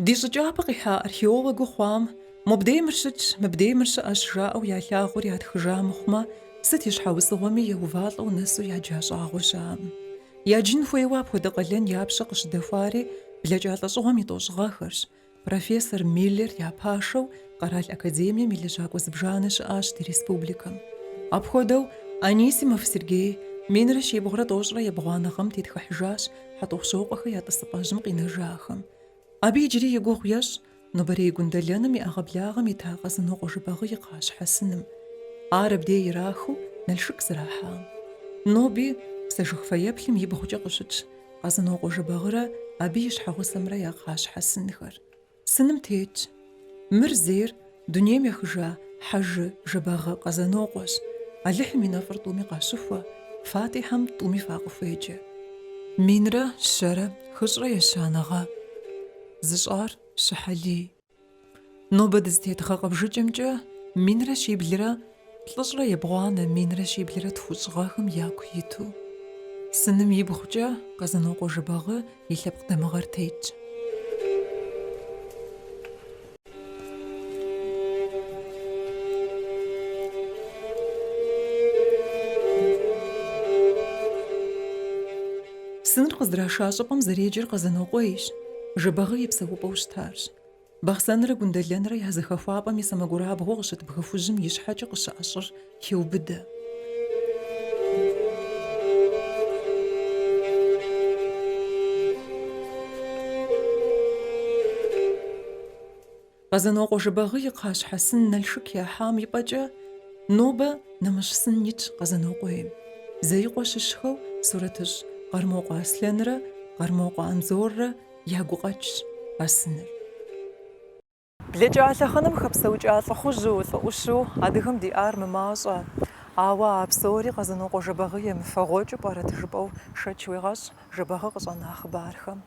Ди щӏыкӏапӏэ къихьа археологыу хъуам мобдей мыр щытщ, мыбдей мыр щыӏэщ жаӏэу ялъагъур ятхыжа мыхъумэ, сыт и щхьэусыгъуэми еувалӏэу нэсу яджа щӏагъуэ щыӏэкъым. Яджын хуейуэ апхуэдэ къалэн я пщэ къыщыдэхуари блэкӏа лӏэщӏыгъуэм и тӏощӏыгъэхэрщ, Профессор Миллер я пашэу Къэрал академием и лэжьакӏуэ зыбжанэ щыӏащ ди республикэм. Апхуэдэу Анисимов Сергей минрэ щибгъурэ тӏощӏрэ ебгъуанэ гъэм тетхыхьыжащ Хьэтӏохъущокъуэхэр я тӏысыпӏэжьым къинэжахэм. Абы иджыри и гугъу ещӏ нобэрей Гундэлэным и ӏэгъэблагъэм ита Къэзынокъуэ Жыбагъы и кхъащхьэ сыным. Ар абдей ирахыу Налшык зэрахьам. Ноби псэжыг фэеплъым и бгъукӏэ къыщытщ. Къэзынокъуэ Жэбагъырэ абы и щхьэгъусэмрэ я кхъащхьэ сынхэр. Сыным тетщ. Мыр зейр дунейм ехыжа Хьэжы Жэбагъы Къэзанокъуэщ, Алыхьым и нэфӏыр тӏуми къащыхуэ, Фатӏихьэм тӏуми факъыхуеджэ. Минрэ щэрэ хыщӏрэ ещанэ гъэ. Зыщӏар Щыхьэлий. Нобэ дызытет гъэ къэбжыкӏэмкӏэ минрэ щиблрэ плӏыщӏрэ ебгъуанэ минрэ щиблрэ тхущӏыгъэхэм яку иту. Сыным и бгъукӏэ Къэзанокъуэ Жэбагъы и лъэпкъ дамыгъэр тетщ. Сыныр къыздраша щӏыпӏэм зэреджэр Къэзанокъуейщ, Жэбагъы и псэупӏэу щытарщ. Бахъсэнрэ Гундэлэнрэ я зэхэхуапӏэм и сэмэгурабгъуэу къыщыт бгы хужьым и щхьэкӏэ къыщыӏэ щӏыр хеубыдэ. Къэзанокъуэ Жэбагъы и кхъащхьэ сын Налшык яхьам и пӏэкӏэ нобэ нэмыщӏ сын итщ Къэзанокъуейм. Зеикъуэ щыщхэу сурэтыщӏ Къармокъуэ Аслъэнрэ Къармокъуэ Анзоррэ я гукъэкӏщ а сыныр. Блэкӏа лъэхъэнэм хэпсэукӏа лӏыхъужьу, лӏы ӏущу адыгэм диӏар мымащӏэ. Ауэ а псори Къэзанокъуэ Жэбагъы емыфэгъуэкӏыу пӏэрэт жыпӏэу шэч уегъэщӏ Жэбагъы къыщӏэна хъыбархэм.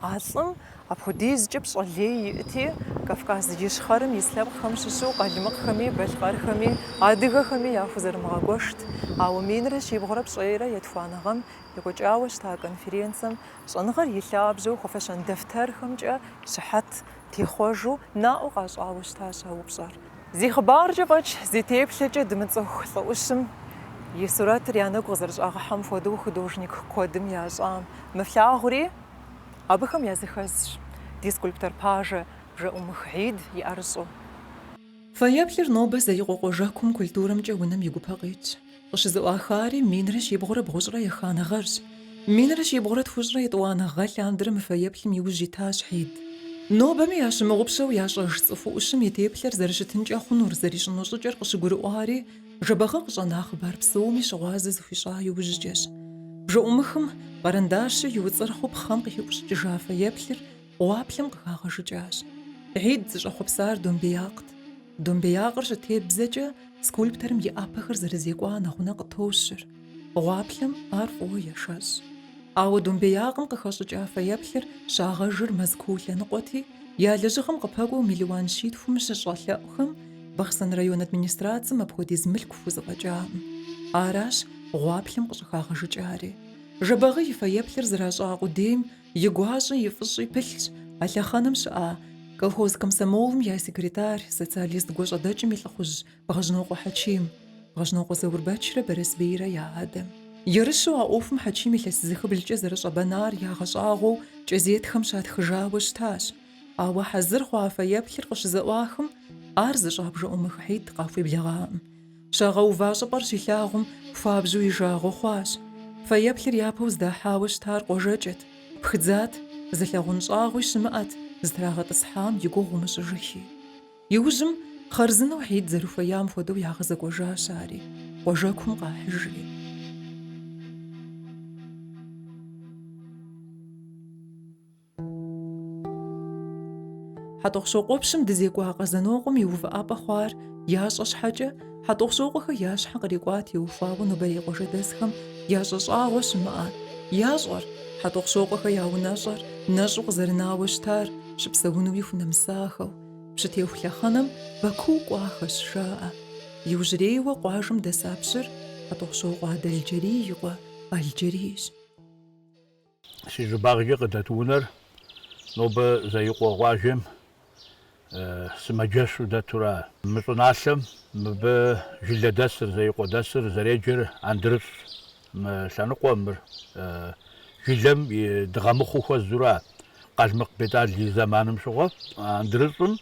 А лӏым апхуэдизкӏэ пщӏэ лей иӏти, Кавказ Ищхъэрэм ис лъэпкъхэм щыщу къалмыкъхэми, балъкъэрхэми, адыгэхэми яхузэрымыгъэгуэшт. Ауэ минрэ щибгъурэ пщӏейрэ етхуанэ гъэм екӏуэкӏауэ щыта конференцэм щӏэныгъэр и лъабжьэу хуэфэщэн дэфтэрхэмкӏэ щыхьэт техъуэжу наӏуэ къащӏауэ щытащ а упщӏэр. Зи хъыбаркӏэ фӏэкӏ, зи теплъэкӏэ дымыцӏыху лӏы ӏущым и сурэтыр я нэгу къызэрыщӏагъыхьэм хуэдэу художник куэдым ящӏа, мы флъагъури абыхэм языхэзщ ди скульптор пажэ Бжэӏумых Хьид и ӏэрыщӏу. Фэеплъыр нобэ Зеикъуэ къуажэкум культурэмкӏэ унэм и гупэ къитщ. Къыщызэӏуахари минрэ щибгъурэ бгъущӏрэ еханэ гъэрщ. Минрэ щибгъурэ тхущӏрэ етӏуанэ гъэ лъандэрэ мы фэеплъым и ужь итащ Хьид. Нобэми ящымыгъупщэу ящӏэж цӏыху ӏущым и теплъэр зэрыщытынкӏэ хъунур, зэрищӏыну щӏыкӏэр къыщыгурыӏуари, Жэбагъы къыщӏэна хъыбар псоми щыгъуазэ зыхуищӏа иужькӏэщ. Бжэӏумыхым къэрэндащыр иуцӏырхъыу пхъэм къыхиӏущӏыкӏыжа фэеплъыр Гъуаплъэм къыхагъэжыкӏащ. Хьид зыщӏэхъуэпсар домбеякът. Домбеякъыр щытебзэкӏэ, скульпторым и ӏэпэхэр зэрызекӏуа нэгъунэ къытощыр. Гъуаплъэм ар фӏыуэ ешэщӏ. Ауэ домбеякъым къыхэщӏыкӏа фэеплъыр щагъэжыр Мэзкуу лъэныкъуэти, я лэжьыгъэм къыпэкӏуэу миллион щитхум щыщӏэлъэӏухэм Бахъсэн район администрацэм апхуэдиз мылъку хузэфӏэкӏакъым. Аращ гъуаплъэм къыщӏыхагъэжыкӏари. Жэбагъы и фэеплъыр зэращӏа къудейм И гуащӏи и фӏыщӏи пылъщ а лъэхъэнэм щыӏа колхоз комсомолым я секретарь, социалист гуащӏэдэкӏым и лӏыхъужь Бгъэжьнокъуэ Хьэчим, Бгъэжьнокъуэ Заурбэчрэ Барэсбийрэ я адэм. Ерыщу а ӏуэхум Хьэчим илъэс зыхыблкӏэ зэрыщӏэбэнар ягъэщӏагъуэу кӏэзетхэм щатхыжауэ щытащ. Ауэ хьэзыр хъуа фэеплъыр къыщызэӏуахым, ар зыщӏа Бжэӏумых Хьид къахуеблэгъакъым. Щагъэува щӏыпӏэр щилъагъум, хуабжьу и жагъуэ хъуащ. Фэеплъыр япэу здахьауэ щытар къуажэкӏэт, пхыдзат, зылъагъун щӏагъуи щымыӏэт, зытрагъэтӏысхьам и гугъу умыщӏыжыхи. Иужьым, хъарзынэу Хьид зэрыхуеям хуэдэу ягъэзэкӏуэжащ ари, къуажэкум къахьыжри. Хьэтӏохъущокъуэпщым дэзекӏуа Къэзанокъуэм и увыӏапӏэ хъуар ящӏэ щхьэкӏэ, хьэтӏохъущокъуэхэр я щхьэ кърикӏуам теухуауэ нобэрей къуажэдэсхэм ящӏэ щӏагъуэ щымыӏэ, ящӏэр, хьэтӏохъущокъуэхэр я унэщӏэр нэщӏу къызэрынауэ щытар щыпсэунуи хунэмысахэу, пщытеху лъэхъэнэм Баку кӏуахэщ, жаӏэ. Иужьрейуэ къуажэм дэса пщыр Хьэтӏохъущокъуэ Адэлджэрий и къуэ Алджэрийщ. Си щӏыбагъкӏэ къыдэт унэр нобэ Зеикъуэ къуажэм сымаджэщу дэтура. Мы щӏыналъэм мыбы жылэдэсыр, зеикъуэдэсыр зэреджэр Андрыщӏщ. Мы лъэныкъуэм, мыр жылэм и дыгъэмыхъуэу хуэзура. Къалмыкъ Бетӏал и зэманым щыгъуэ Андрыщӏым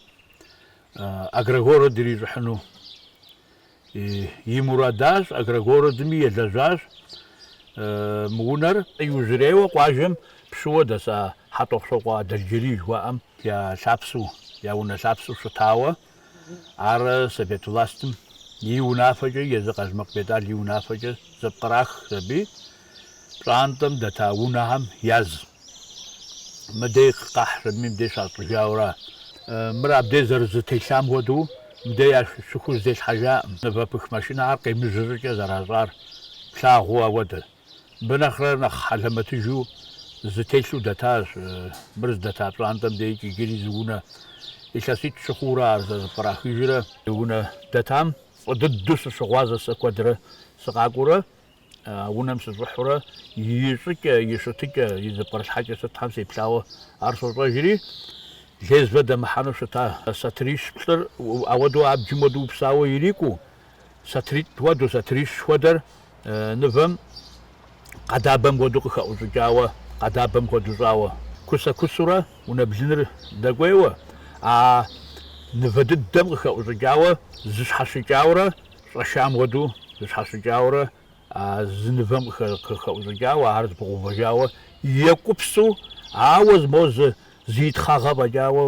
агрогород ирищӏыхьыну И мурадащ, Агрогородми елэжьащ мы унэр. Иужьрейуэ къуажэм пщыуэ дэса Хьэтӏохъущокъуэ Адэлджэрий жыхуаӏэм я лъапсэу, я унэ лъапсэу щытауэ, ар совет властым и унафэкӏэ, езы Къалмыкъ Бетӏал и унафэкӏэ зэпкърахщ аби Пщӏантӏэм дэта унэхэм яз мыдей къахьри мыдей щащӏыжауэра. Мыр абдей зэрызытелъам хуэдэу мыдей ящыхузытелъхьэжакъым. Нывэпых машинэхэр къемыжьэ щӏыкӏэ зэращӏар плъагъуу ауэдэ. Мыбы нэхърэ нэхъ хьэлэмэтыжу зытелъу дэтащ мыр здэта пщӏантӏэм дейкӏи иджыри зы унэ. Илъэситӏ-щы хъууэ ара зэрыпкърахыжрэ. Унэ дэтам фӏы дыдэу сыщыгъуазэщ сэ куэдрэ сыкъакӏуэурэ. унэм сыщӏыхьурэ и щӏыкӏэ, и щытыкӏэ, и зыпкърылъхьэкӏэ сытхэм сеплъауэ ар сощӏэжри, лезвэ дэмыхьэну щыта сатырищ плӏыр, ауэдэу абджым уэду упсауэ ирикӏуу, сатыритӏ уэду, сатырищ хуэдэр нывэм къэдабэм хуэду къыхэӏущӏыкӏауэ, къэдабэм хуэду щӏауэ, кусэ-кусурэ унэ блыныр дэкӏуейуэ, а нывэ дыдэм къыхэӏущӏыкӏауэ зыщхьэщыкӏаурэ Щӏэшам хуэдэу зыщхьэщыкӏаурэ а зы нывэм къыхэӏущӏыкӏауэ, ар зыпыгъэувэжауэ екӏупсу, ауэ зы мо зы итхъагъэ фӏэкӏауэ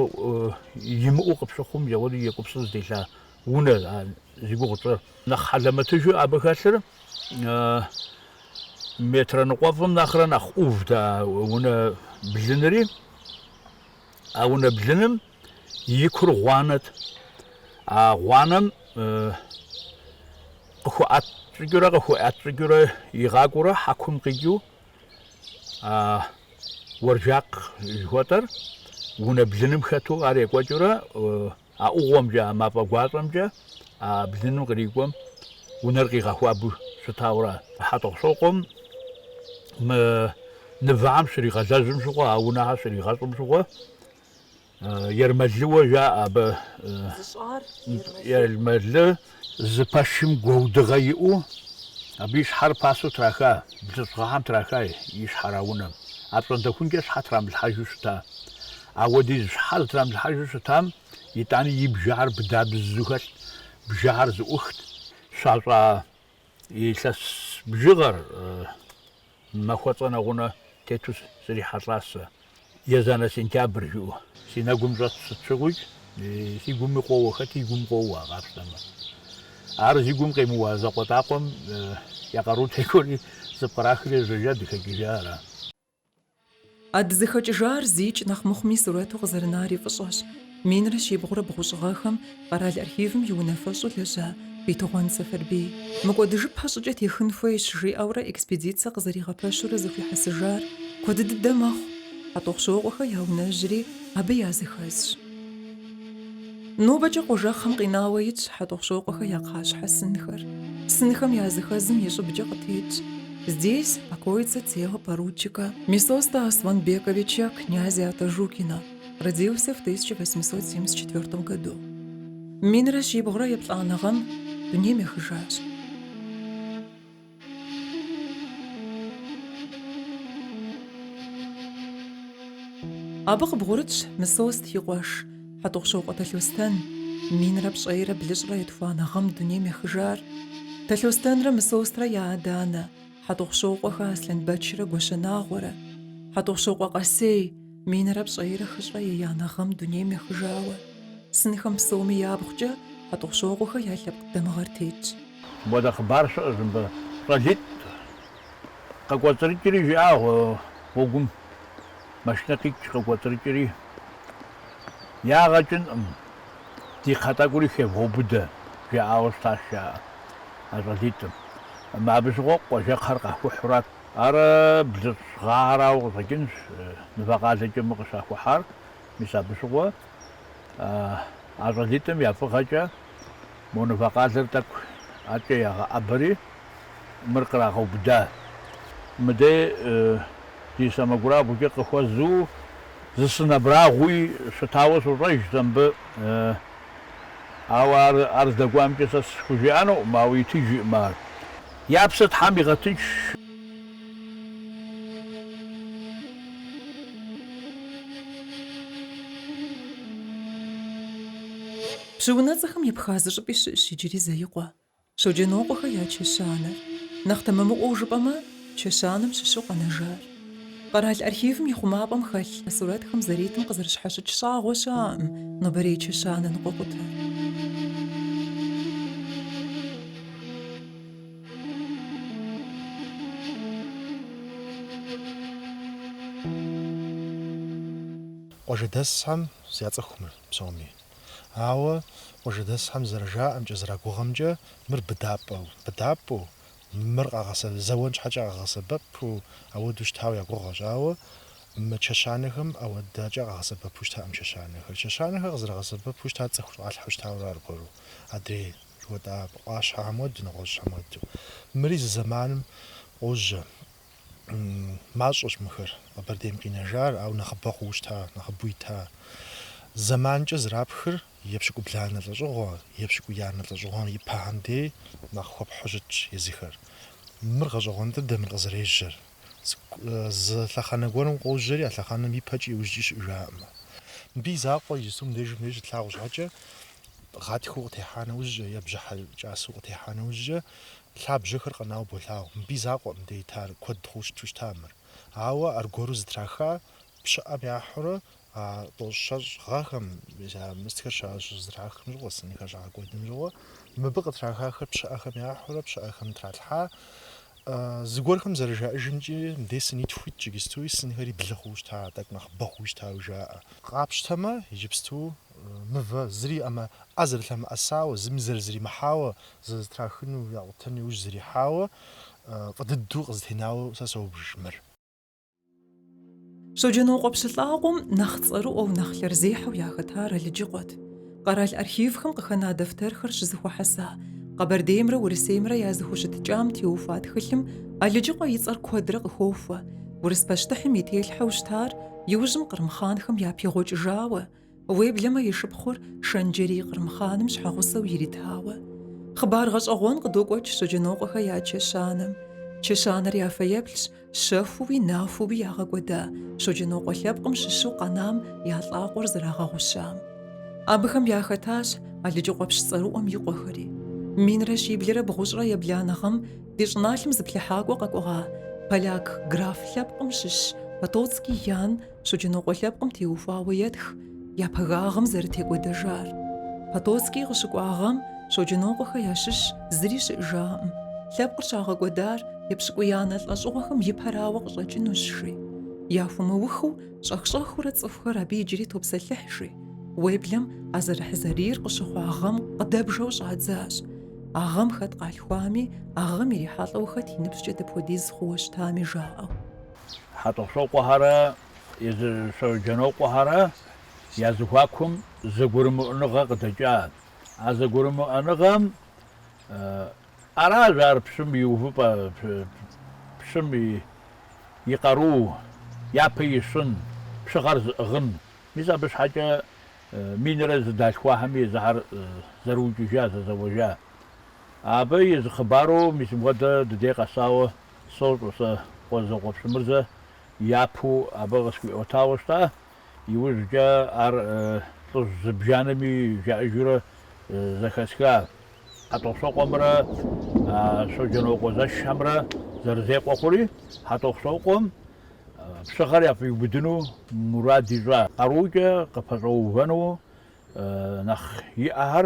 имыӏэу къыпщыхъум, зэхуэду екӏупсу зытелъа унэ зи гугъу тщӏыр. Нэхъ хьэлэмэтыжу абы хэлъыр метрэ ныкъуэфӏым нэхърэ нэхъ ӏувт а унэ блыныри. А унэ блыным. и кур гъуанэт. А гъуанэм къыхуэӏэт щӏыкӏэурэ къыхуэӏэт щӏыкӏэурэ игъакӏуэурэ хьэкум къикӏыу уэржакъ жыхуэтӏэр унэ блыным хэту ар екӏуэкӏыурэ а ӏугъуэмкӏэ, а мафӏэ гуащӏэмкӏэ а блыным кърикӏуэм унэр къигъэхуабэу щытауэ ара. Хьэтӏохъущокъуэм мы нывэхэм щригъэлэжьым щыгъуэ, а унэхэр щригъэщӏым щыгъуэ Ермэлыуэ жаӏэ абы. Зыщӏар Ермэлы. Зы пэшым гуэудыгъэ иӏэу абы и щхьэр пасэу траха, блыщӏ гъэхэм траха и щхьэр а унэм. Апщӏондэхункӏэ щхьэ трамылъхьэжу щыта. Ауэдиз щхьэ зытрамылъхьэжу щытам итӏани и бжэхэр быдабзу хэлът, бжэхэр зыӏухт, щащӏа Илъэс бжыгъэр махуэцӏэ нэгъунэ тету срихьэлӏащ сэ. Езанэ сентябрь жиӏэу си нэгум щӏэтщ, сыт щыгъуикӏ си гуми къоуэ, хэт и гум къоуэ къапщтэмэ. Ар зи гум къемыуа закъуэтӏакъуэм я къару текӏуэри зыпкърахри жьэжьэ дыхэкӏыжа ара. А дызыхэкӏыжар зикӏ нэхъ мыхъуми сурэту къызэрынари фӏыщӏэщ. Минрэ щибгъурэ бгъущӏыгъэхэм къэрал архивым и унафэщӏу лэжьа Бетыгъуэн Сэфэрбий мыкӏуэдыжыпэ щӏыкӏэ техын хуейщ жиӏэурэ экспедицэ къызэригъэпэщурэ зыхуихьэсыжар куэд дыдэ мэхъу, Хьэтӏохъущокъуэхэ я унэжьри абы языхэзщ. Нобэкӏэ къуажэкхъэм къинауэ итщ Хьэтӏохъущокъуэхэ я кхъащхьэ сынхэр. Сынхэм языхэзым и щӏыбкӏэ къытетщ Здесь покоится тело поручика Мисоста Асланбековича, князя Атажукина, родился в 1874 году. Минрэ щибгъурэ еплӏанэ гъэм дунейм ехыжащ. Абы къыбгъурытщ Мысост и къуэш, Хьэтӏохъущокъуэ Талъостэн, минрэ пщӏейрэ блыщӏрэ етхуанэ гъэм дунейм ехыжар. Талъостэнрэ Мысострэ я адэ-анэ, Хьэтӏохъущокъуэхэ Аслъэнбэчрэ Гуащэнагъуэрэ, Хьэтӏохъущокъуэ Къэсей, Минрэ пщӏейрэ хыщӏрэ еянэ гъэм дунейм ехыжауэ. Сынхэм псоми я бгъукӏэ, Хьэтӏохъущокъуэхэ я лъэпкъ дамыгъэр тетщ. Мыбыдэ хъыбар щыӏэщ мыбы щӏалитӏ къыкӏуэцӏрыкӏри, жиӏа гъуэгум. Машинэ къикӏ къыкӏуэцӏрыкӏри, ягъэкӏынкъым, ди кхъэ тӏэкӏури хевгъэубыдэ, жаӏауэ щытащ, жаӏэ, а щӏалитӏым. Абы щыгъуэ къуажэкхъэр къахухьурат. Ар блыщӏ гъэхэрауэ къыщӏэкӏынщ мывэ къалэкӏэ мы къыщахухьар, мис абы щыгъуэ а щӏалитӏым я фӏыгъэкӏэ мо мывэ къалэр тӏэкӏу акӏэ ягъэӏэбэри, мыр кърагъэубыда. Мыдей ди сэмэгурабгъукӏэ къыхуэзу зы сын абрагъуи щытауэ сощӏэж сэ мыбы, ауэ ар здэкӏуамкӏэ сэ схужыӏэнукъым, ауэ итыжкъым ар. Я псэр Тхьэм игъэтынш. Пщы унэцӏэхэм епха зы щӏыпӏи щыӏщ иджыри Зеикъуэ, Щоджэнокъуэхэ я чэщанэр. Нэхъ тэмэмыӏуэу жыпӏэмэ, чэщанэм щыщу къэнэжар. Къэрал архивым и хъумапӏэм хэлъ сурэтхэм зэритым къызэрыщхьэщыкӏ щӏагъуэ щыӏэкъым нобэрей чэщанэ ныкъуэкъутэр. Къуажэдэсхэм яцӏыху мыр псоми. Ауэ къуажэдэсхэм зэрыжаӏэмкӏэ, зэрагугъэмкӏэ, мыр быдапӏэу, быдапӏэу, Мыр къагъэсэбэп, зэуэн щхьэкӏэ къагъэсэбэпу ауэдэу щытауэ я гугъэщ, ауэ мы чэщанэхэм ауэдакӏэ къагъэсэбэпу щытакъым чэщанэхэр. Чэщанэхэр къызэрагъэсэбэпу щытар цӏыху щӏалъхьэу щытауэ ара аргуэру, адрей жыхуэтӏа ӏуащхьэхэм уэду, нэгъуэщӏхэм уэду. Мыри зы зэманым къожьэ. мащӏэщ мыхэр Къэбэрдейм къинэжар, ауэ нэхъыбэ хъууэ щыта, нэхъыбэу ита. Зэманкӏэ зрапхыр епщыкӏубланэ лӏэщӏыгъуэ, епщыкӏуиянэ лӏэщӏыгъуэм и пэхэм дей нэхъ хуэпхьу щытщ езыхэр. Мыр гъэщӏэгъуэн дыдэ мыр къызэрежьэр. Зы лъэхъэнэ гуэрым къожьэри, а лъэхъэнэм ипэкӏи иужькӏи щыӏыжаӏымэ. Мыбы и закъуэ иджысту мыбдеж тлъагъу щхьэкӏэ, гъатхэу къытехьа нэужькӏэ е бжьыхьэ кӏасэу къытехьа нэужькӏэ, Лъабжьэхэр къэнауэ болъагъу, мыбы и закъуэкъым мыбдей итар, куэд хъууэ щыту щыта мыр. Ауэ аргуэру зытраха пщыӏэм яхьурэ а тӏощӏ-щэщӏ гъэхэм, мыстхэр щызэтрахым щыгъуэ, сынхэр щагъэкӏуэдым щыгъуэ, мыбы къытрахахэр пщыӏэхэм яхьурэ пщыӏэхэм тралъхьа. Зыгуэрхэм зэрыжаӏэжымкӏи, мыбдей сынитху итщ, иджыстуи сынхэри блы хъууэ щыта, тӏэкӏу нэхъыбэ хъууи щытауи жаӏэ. Къапщтэмэ, иджыпсту Мывэ, зыри ӏэмэ, ӏэ зэрылъэмыӏэсауэ, зыми зэрызримыхьауэ, зызэтрахыну, якъутэну иужь зрихьауэ, фӏы дыдэу къызытенауэ сэ соубж мыр. Щоджэнокъуэ пщы лӏакъуэм нэхъ цӏэрыӏуэу, нэхъ лъэрзехьэу яхэтар Алыджыкъуэт. Къэрал архивхэм къыхэна дэфтэрхэр щызыхуэхьэса Къэбэрдеймрэ Урысеймрэ я зыхущытыкӏам теухуа тхылъым Алыджыкъуэ и цӏэр куэдрэ къыхохуэ, урыс пащтыхьым и телъхьэу щытар иужьым Кърым хъанхэм япегъуэкӏыжауэ, Уеблэмэ и шыпхъур Шэнджэрий Кърым хъаным щхьэгъусэу иритауэ. Хъыбар гъэщӏэгъуэн къыдокӏуэкӏ Щоджэнокъуэхэ я чэщанэм. Чэщанэр я фэеплъщ щэхууи нахуэуи ягъэкӏуэда Щоджэнокъуэ лъэпкъым щыщу къэнам я лӏакъуэр зэрагъэгъущам. Абыхэм яхэтащ Алыджыкъуэ пщы цӏэрыӏуэм и къуэхэри. Минрэ щиблрэ бгъущӏрэ ебланэ гъэм ди щӏыналъэм зыплъыхьакӏуэ къэкӏуэгъа поляк граф лъэпкъым щыщ Потоцкий Ян Щоджэнокъуэ лъэпкъым теухуауэ етх я пагагъым зэрытекӏуэдэжар. Потоцкий къыщыкӏуа гъэм Щоджэнокъуэхэ ящыщ зыри щыӏэжаӏым. Лъэпкъыр щагъэкӏуэдар епщыкӏуиянэ лӏэщӏыгъуэхэм и пэрауэ къыщӏэкӏынущ, жи. Яхуэмыухыу щӏэх-щӏэхыурэ цӏыхухэр абы иджыри топсэлъыхь, жи. Уеблэм а зэрыхьзэрийр къыщыхъуа гъэм къыдэбжэу щӏадзащ. А гъэм хэт къалъхуами, а гъэм ирихьэлӏэу хэт и ныбжькӏэ дапхуэдиз хъууэ щытами жаӏэу. Хьэтӏохъущокъуэхэрэ езы Щоджэнокъуэхэрэ я зэхуакум зэгурымыӏуэныгъэ къыдэкӏа. А зэгурымыӏуэныгъэм аращ ар пщым и увыпӏэ, пщым и къару япэ ищын, пщыгъэр зыӏыгъын. Мис абы щхьэкӏэ минрэ зэдалъхуахэми езыхэр зэрыукӏыжа, зэзэуэжа. Абы и зы хъыбару мис мыхуэдэ ди дей къэсауэ Сощӏэ сэ Къуэзэкъуэ Пщымырзэ япэу абы къысхуиӏуэтауэ щыта, иужькӏэ ар лӏыжь зыбжанэми жаӏэжурэ зэхэсха Хьэтӏохъущокъуэмрэ а Щоджэнокъуэ зэшхьэмрэ зэрызекъуэ хъури, Хьэтӏохъущокъуэм пщыгъэр яфӏиубыдыну мурад ищӏа, къарукӏэ къыпэщӏэувэну нэхъ иӏэхэр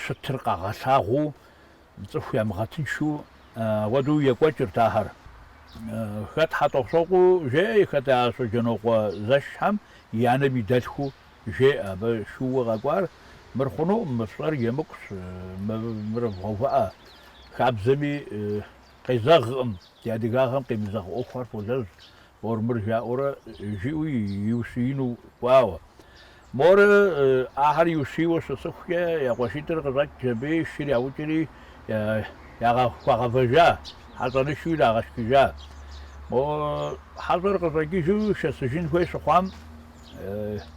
щытыр къагъэлъагъуу, цӏыху ямыгъэтыншу ауэдэу екӏуэкӏырт ахэр. Хэт Хьэтӏохъущокъуэу жеӏэ, хэт а Щоджэнокъуэ зэшхьэм и анэм и дэлъхуу жеӏэ, абы шууэ къэкӏуар, мыр хъунукъым, мы фщӏэр емыкӏущ, мыр вгъэувыӏэ, хабзэми къезэгъкъым, ди адыгагъэм къемызэгъ ӏуэхухэр фолэжь, Ор-мыр жаӏэурэ жиӏэу иущиину кӏуауэ. Мор ахэр иущийуэ щысыхукӏэ, я къуэшитӏыр къыщӏэкӏ, абы и шыр яукӏри, ягъэ хуагъэвэжа, хьэщӏэнышу ирагъэшхыжа. Мо хьэщӏэр къыщӏэкӏыжу шэсыжын хуей щыхъуам,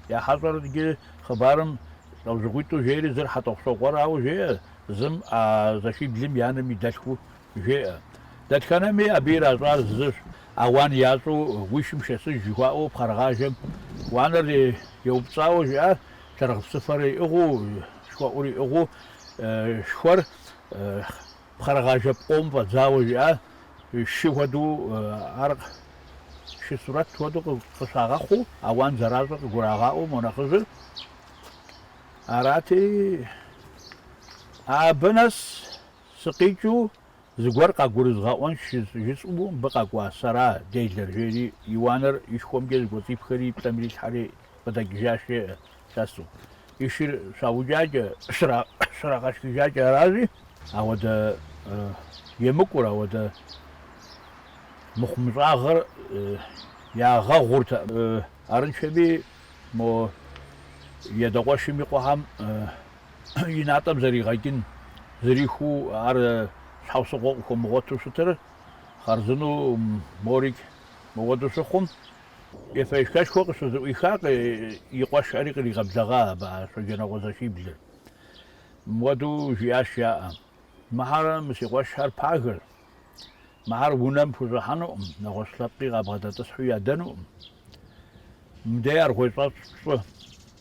я хьэщӏэр иджы хъыбарым лӏэужьыгъуитӏу жери зыр Хьэтӏохъущокъуэрауэ жеӏэ, зым а зэшиблым и анэм и дэлъхуу Жеӏэ. Дэтхэнэми абы иращӏар зыщ, ауан ящӏу уи шым шэсыж жыхуаӏэу пхъэрыгъажэм уанэр еупцӏауэ жиӏа, лъэрыгъыпсыфэр иӏыгъыу, шхуэӏур иӏыгъыу, шхуэр пхъэрыгъажэ пкъом фӏэдзауэ жиӏа, шы хуэдэу ар шы сурэт хуэдэу къыщагъэхъуу, ауан зэращӏыр къыгурагъаӏуэ мо нэхъыжьыр. Арати, абы нэс Сыкъикӏыу зыгуэр къагурызгъэӏуэнщ жысӏэу мыбы къэкӏуа сэра делэр, жери и уанэр и шхуэмкӏэ зыкӏуэцӏипхэри и плӏэм ирилъхьэри къыдэкӏыжащ, жеӏэ лъэсу. И шыр щаукӏакӏэ, щрагъэшхыжакӏэ аращи, ауэдэ емыкӏур, ауэдэ мыхъумыщӏагъэр ягъэгъуртэкъым. Арыншэми, мо и адэ къуэшым и къуэхэм и натӏэм зэригъэкӏын зэрихуэу ар щхьэусыгъуэ къыхуэмыгъуэту щытыр, хъарзынэу морик мыгъуэту щыхъум, ефэешхэшхуэ къыщызэӏуиха, и къуэшхэри къригъэблэгъа абы а Щоджэнокъуэ зэшиблыр. Мыуэдэу жиӏащ яӏэ, мыхьэр мы си къуэшхэр пагэщ, мыхьэр унэм пхущӏыхьэнукъым, нэгъуэщӏ лъэпкъи къабгъэдэтӏысхьу ядэнукъым. Мыбдей аргъуей щӏэщӏ щӏы.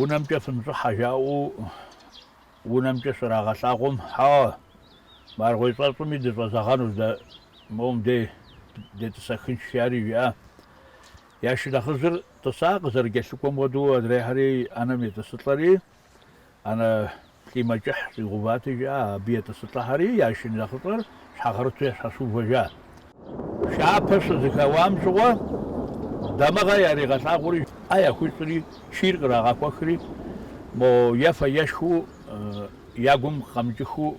унэмкӏэ фыныщӏыхьэ жаӏэу унэмкӏэ щрагъэлъагъум, хьэуэ, мы аргъуей щӏэщӏми дыщӏэзэгъэнущ дэ, моуэм дей детӏысэхынщ, жари жиӏа. Я шынэхъыжьыр тӏыса, къызэрыкӏэлъыкӏуэм хуэдэу адрейхьэри ӏэнэм етӏысылӏэри. ӏэнэ лӏимэ кӏыхь щӏигъэувати жаӏэ, абы етӏысылӏэхэри я шынэхъыщӏэр щхьэгъэрыту ящхьэщыувэжат. Пшапэ щызэхэуам щыгъуэ дамыгъэ яригъэлъагъури, ӏэ яхуищӏри, чийр кърагъэхуэхри, мо ефэ ешхыу я гум къэмыкӏыхыу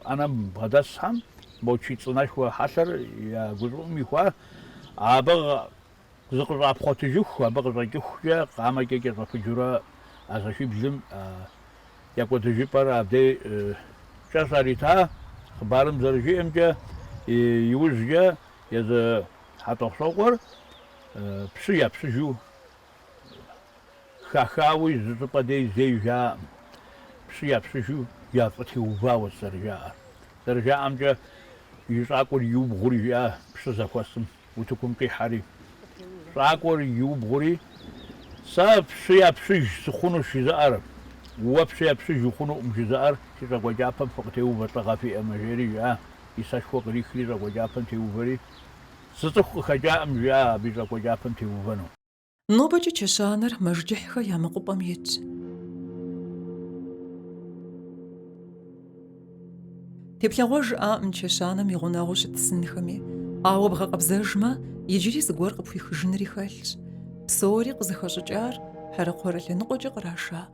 ӏэнэм бгъэдэсхэм, мо чий цӏынэшхуэ хьэлъэр я гущӏыӏум ихуа, абы Зыкъыщӏапхъуэтыжыху, абы къыщӏэкӏыхукӏэ къамэкӏэ кӏэщӏэпыджурэ а зэшиблым я кӏуэдыжыпӏэр абдей кӏэ щарита. Хъыбарым зэрыжиӏэмкӏэ, иужькӏэ езы Хьэтӏохъущокъуэр пщы япщыжу хахауи зы щӏыпӏэ дей зей жаӏэм, пщы япщыжу яфӏытеувауэщ зэрыжаӏэр. Зэрыжаӏэмкӏэ, и щӏакӏуэр иубгъури жиӏа пщы зэхуэсым. утыкум къихьэри. Щӏакӏуэр иубгъури, Сэ пщы япщыж сыхъунущ жызыӏэр, уэ пщы япщыж ухъунукъым жызыӏэр си щӏакӏуэкӏапэм фыкъытеувэ лӏыгъэ фиӏэмэ, жери жиӏа. И сэшхуэ кърихри щӏакӏуэкӏапэм теувэри, Зы цӏыху къыхэкӏаӏым, жиӏа абы и щӏакӏуэкӏапэм теувэну. Нобэкӏэ чэщанэр мэжджыхьхэ я мэкъупӏэм итщ. Теплъэгъуэж яӏэӏым чэщанэм и гъунэгъуу щыт сынхэми, ауэ бгъэкъэбзэжмэ, иджыри зыгуэр къыпхуихыжынри хэлъщ. Псори къызыхэщӏыкӏар Хьэрэкхъуэрэ лъэныкъуэкӏэ къраша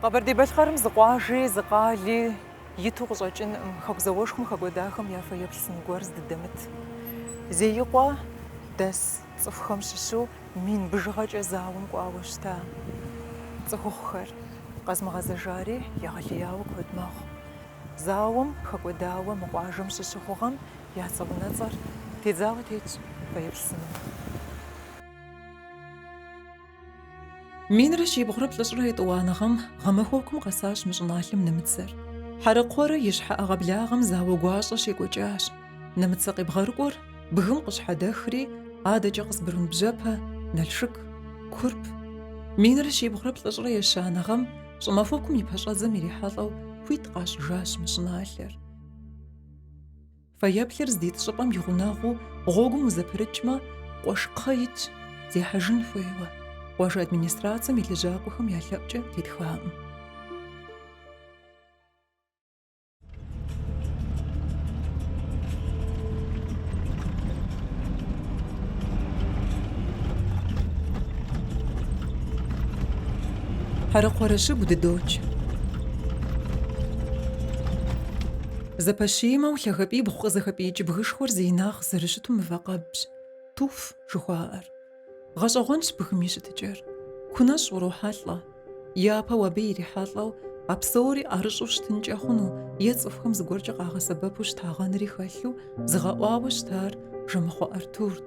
Къэбэрдей-Балъкъэрым зы къуажи, зы къали иту къыщӏэкӏынкъым, хэку зауэшхуэм хэкӏуэдахэм я фэеплъ сын гуэр здыдэмыт. Зеикъуэ дэс цӏыхухэм щыщу мин бжыгъэкӏэ зауэм кӏуауэ щыта цӏыхухъухэр къэзмыгъэзэжари егъэлеяуэ куэд мэхъу. Зауэм хэкӏуэдауэ мы къуажэм щыщ цӏыхухэм я цӏэ унэцӏэр тедзауэ тетщ фэеплъ сыным. Минрэ щибгъурэ плӏыщӏрэ етӏуанэ гъэм гъэмахуэкум къэсащ мы щӏыналъэм нэмыцэр. Хьэрэкхъуэрэ и щхьэ ӏэгъуэблагъэм зауэ гуащӏэ щекӏуэкӏащ. Нэмыцэ къебгъэрыкӏуэр бгым къыщхьэдэхри, адэкӏэ Къызбрун бжьэпэ, Налшык, Курп. Минрэ щибгъурэ плӏыщӏрэ ещанэ гъэм щӏымахуэкум и пэщӏэдзэм ирихьэлӏэу хуит къащӏыжащ мы щӏыналъэр. Фэеплъыр здит щӏыпӏэм и гъунэгъуу гъуэгум узэпрыкӏмэ, къуэш кхъэ итщ, зехьэжын хуейуэ, къуажэ администрацэм и лэжьакӏуэхэм я лъэӏукӏэ тетхаӏым. Хьэрэкхъуэрэ щыгу дыдокӏ. Зэпэщимэу лъагэпӏибгъу къызэхэпӏиикӏ бгышхуэр зи инагъ зэрыщыту мывэкъэбщ, туф жыхуаӏэр. Гъэщӏэгъуэнщ бгым и щытыкӏэр. Кунэщӏ урохьэлӏэ. Япэу абы ирихьэлӏэу а псори ӏэрыщӏу щытынкӏэ хъуну е цӏыхухэм зыгуэркӏэ къагъэсэбэпу щытагъэнри хэлъу зыгъэӏуауэ щытар Жэмыхъуэ Артурт.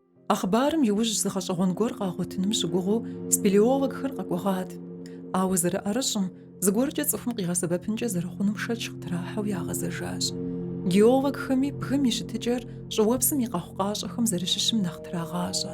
А хъыбарым иужь зы гъэщӏэгъуэн гуэр къагъуэтыным щыгугъыу спелеологхэр къэкӏуэгъат. Ауэ зэрыӏэрыщӏым, зыгуэркӏэ цӏыхум къигъэсэбэпынкӏэ зэрыхъунум шэч къытрахьэу ягъэзэжащ. Геологхэми бгым и щытыкӏэр щӏыуэпсым и къэхъукъащӏэхэм зэрыщыщым нэхъ трагъащӏэ.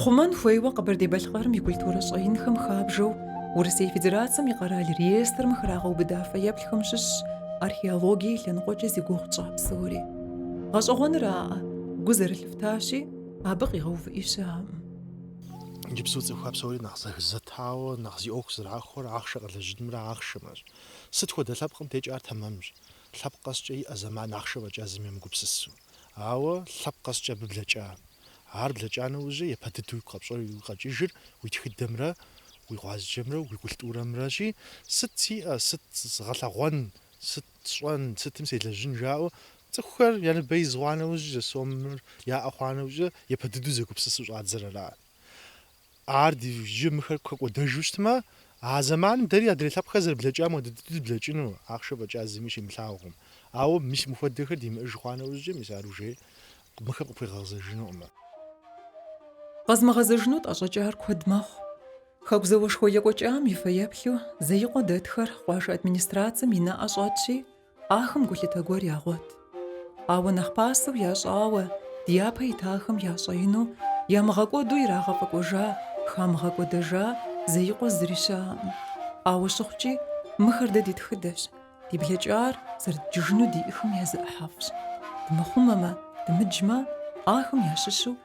Хъумэн хуейуэ Къэбэрдей-Балъкъэрым и культурэ щӏэинхэм хабжэу Урысей Федерацэм и къэрал реестрым храгъэубыда фэеплъхэм щыщщ археологие и лъэныкъуэкӏэ зи гугъу тщӏа псори. Гъэщӏэгъуэныраӏэ, гу зэрылъыфтащи, абы къигъэувыӏи щыӏэкъым. Иджыпсту цӏыхухэр псори нэхъ зэхызэтауэ, нэхъ зи ӏуэху зэрахуэр ахъшэ къэлэжьынымрэ ахъшэмэщ. Сыт хуэдэ лъэпкъым дежкӏэ ар тэмэмщ, лъэпкъ къэскӏэ иӏэ зэман ахъшэ фӏэкӏа зыми емыгупсысу. Ауэ лъэпкъ къэскӏэ абы блэкӏа. Ар блэкӏа нэужьи, епэ дыдэу уигу къэпщӏэри уи къэкӏыжыр, уи тхыдэмрэ уи гъуазджэмрэ уи культурэмрэщи, сыт сиӏэ, сыт згъэлъэгъуэн, сыт сщӏэн, сытым селэжьын жаӏэу, цӏыхухэр я ныбэ из хъуа нэужьи, зы сомыр яӏэ хъуа нэужьи, епэ дыдэу зэгупсысу щӏадзэрыра. Ар иджы мыхэр хэкӏуэдэжу щытмэ, а зэманым дэри адрей лъэпкъхэр зэрыблэкӏам хуэдэ дыдэу дыблэкӏыну ахъшэ фӏэкӏа зыми щимылъагъум. Ауэ мис мыхуэдэхэр димыӏэж хъуа нэужькӏэ, мис ар ужей мыхэм къыпхуегъэгъэзэжынукъым. Къэзымыгъэзэжыну тӏэщӏэкӏар куэд мэхъу. Хэку зауэшхуэ екӏуэкӏам и фэеплъу Зеикъуэ дэтхэр къуажэ администрацэм и нэӏэ щӏэтщи, Ахэм гулъытэ гуэр ягъуэт. Ауэ нэхъ пасэу ящӏауэ, дяпэ итахэм я щӏэину, ямыгъэкӏуэду ирагъэфӏэкӏуэжа, хамыгъэкӏуэдэжа Зеикъуэ зыри щыӏэкъым. Ауэ щыхъукӏи, мыхэр дэ ди тхыдэщ, ди блэкӏар зэрыдджыжыну диӏэхэм я зы ӏыхьэфӏщ. Дымыхъумэмэ, дымыджмэ, ахэм ящыщу